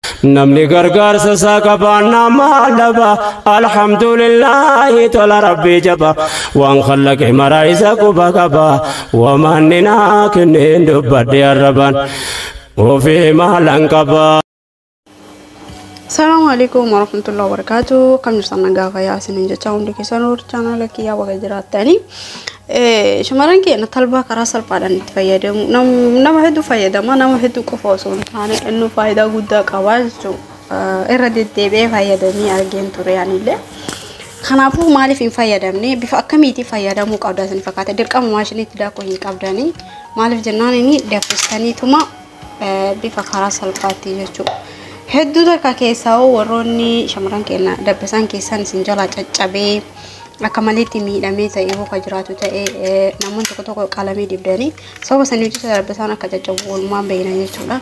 Namni gargaarsa isaa qabaan nama dhaba alhamdulillahi tola rabbii jaba waan kallaqe maraa isa quba qaba wamaanni naa kenneen dubbadhe arrabaan ofii maalan qaba. Assalamu alaikum warahmatullahi wabarakatuh. Kam jirtan nagaa fayyaa isiniin jecha hundi keessan warri chaanaala kiyyaa baga jiraattanii. Shamarran keenya talbaa karaa salphaadhaan itti fayyadamu. Nama hedduu fayyadama. Nama hedduu qofa osoo hin taane inni faayidaa guddaa qaba jechuudha. Irra deddeebi'ee fayyadamee argeen ture anillee. Kanaafuu maaliif hin fayyadamne bifa akkamiitiin fayyadamuu qabda isin fakkaata dirqama maashiniitti daakuu hin qabdanii maaliif jennaan inni daffistaniituma bifa karaa salphaatti jechuudha. Hedduu takka keessaa hoo warroonni shamarran keenya dabbasaan keessaan isin jalaa caccabee akka maleetti miidhamee ta'e hoo ka jiraatu ta'e eh, namoonni tokko tokko qalamii dibdanii sababa sanii jecha dabbasaan akka caccabu walumaan beeyna jechuudha.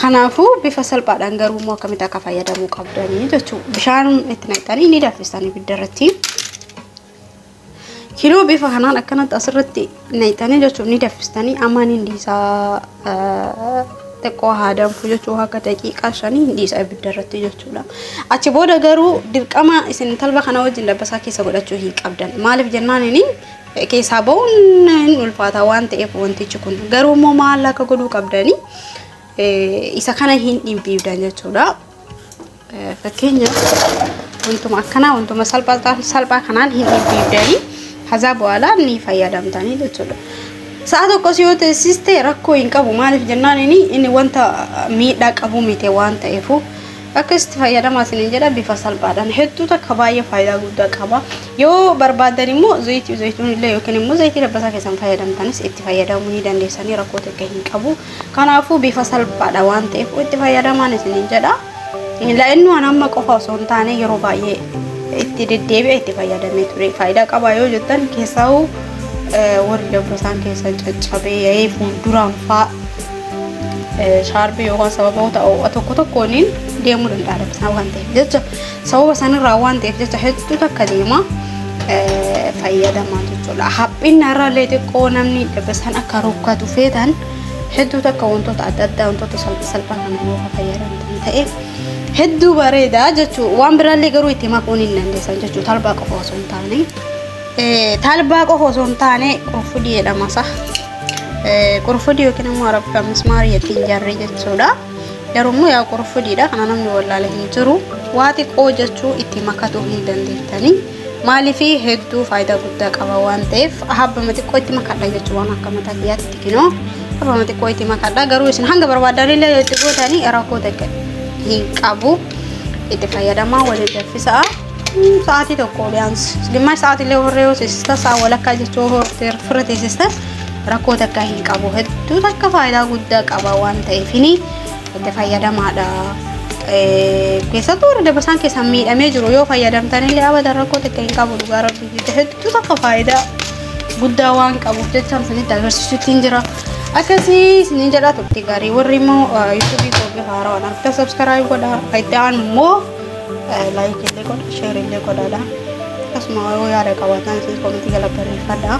Kanaafuu bifa salphaadhaan garuu immoo akkamitti akka fayyadamuu qabdanii jechuudha. Bishaan itti naqxanii ni danfistan ibidda irratti. Kinoo bifa kanaan akkanatti asirratti naqxanii jechuun ni daffistanii amma ni dhiisaa xiqqoo haa danfu jechuu akka daqiiqaa shanii hin dhiisa ibidda irratti jechuudha. Achi booda garuu dirqama isin talba kana wajjin dabbasaa keessa godhachuu hin qabdan. Maaliif jennaan inni keessaa ba'uun hin ulfaata waan ta'eef wantichi kun garuu immoo maal akka godhuu qabdanii isa kana hin dhimbiibdan jechuudha. Fakkeenyaaf wantuma akkanaa wantuma salphaa salphaa kanaan hin dhibbiibdanii hazaa bu'aalaa ni fayyadamtanii jechuudha. Sa'a tokkos yoo teessiste rakkoo hin qabu maaliif jennaan inni inni wanta miidhaa qabu miti waan ta'eefu akka itti fayyadamaa isiniin jedha bifa salphaadhaan hedduu takka baay'ee faayidaa guddaa qaba. Yoo barbaadan immoo zayitii zayituun illee yookiin immoo zayitii dabbasaa keessan fayyadamtanis itti fayyadamuu ni dandeessanii rakkoo takka hin qabu. Kanaafuu bifa salphaadha waan ta'eef itti fayyadamaan isiniin jedha. La'innu an amma qofa osoo hin taane yeroo baay'ee itti deddeebi'a itti fayyadamee ture. Faayidaa qaba yoo jettan keessaa'u warri dabbasaan keessan caccabee ya'ee fuulduraan faa shaarbii yookaan sababoota oo'a tokko tokkooniin deemuu danda'a dabbasaan waan ta'eef jecha. Sababa sanirraa waan ta'eef jecha hedduu takka deema fayyadamaa jechuudha. Haphinna irraallee xiqqoo namni dabasan akka rukkatu feetan hedduu takka wantoota adda addaa wantoota salphaa kana yoo fayyadamtan ta'e hedduu bareeda jechuudha. Waan biraallee garuu itti makuun hin dandeessan jechuudha. Talbaa qofa osoo hin taane. Talbaa qofa osoo hin taane qurfudii jedhama isaa. Qurfudii yookiin immoo arabka mismaarii ittiin jarri jechuudha. Garuu immoo yaa qurfudiidha kana namni wallaale hin jiru. Waa xiqqoo jechuu itti makatuu hin dandeettanii. Maaliif hedduu faayidaa guddaa qaba waan ta'eef habbama xiqqoo itti makadha jechuu waan akka mataa kiyyaatti xiqqinoo habbama xiqqoo itti makadha garuu isin hanga barbaadan illee itti gootanii rakkoo takka hin qabu itti fayyadamaa waliin danfisaa. Sa'aatii tokko biyaans gimmash sa'aatii illee horree yoo teessista sa'a walakkaa jechuu hortee firra teessista rakkoo takka hin qabu hedduu takka faayidaa guddaa qaba waan ta'eef ni itti fayyadamaadha. Keessattuu warra dabasaan keessan miidhamee jiru yoo fayyadamtan illee abada rakkoo takka hin qabu dhugaa rabbii jecha hedduu takka faayidaa guddaa waan qabuuf jecha isinitti agarsiisutti hin jira. Akkasii isiniin jedhaa turte gaarii warri immoo yuutuubii koo bifa haarawaan akka sabskaraayib godhaa itti aanu immoo Laayikii illee godha, sheerii illee godhaadha. Akkasuma yoo yaada qabaatan isin komitii jala barreeffadha.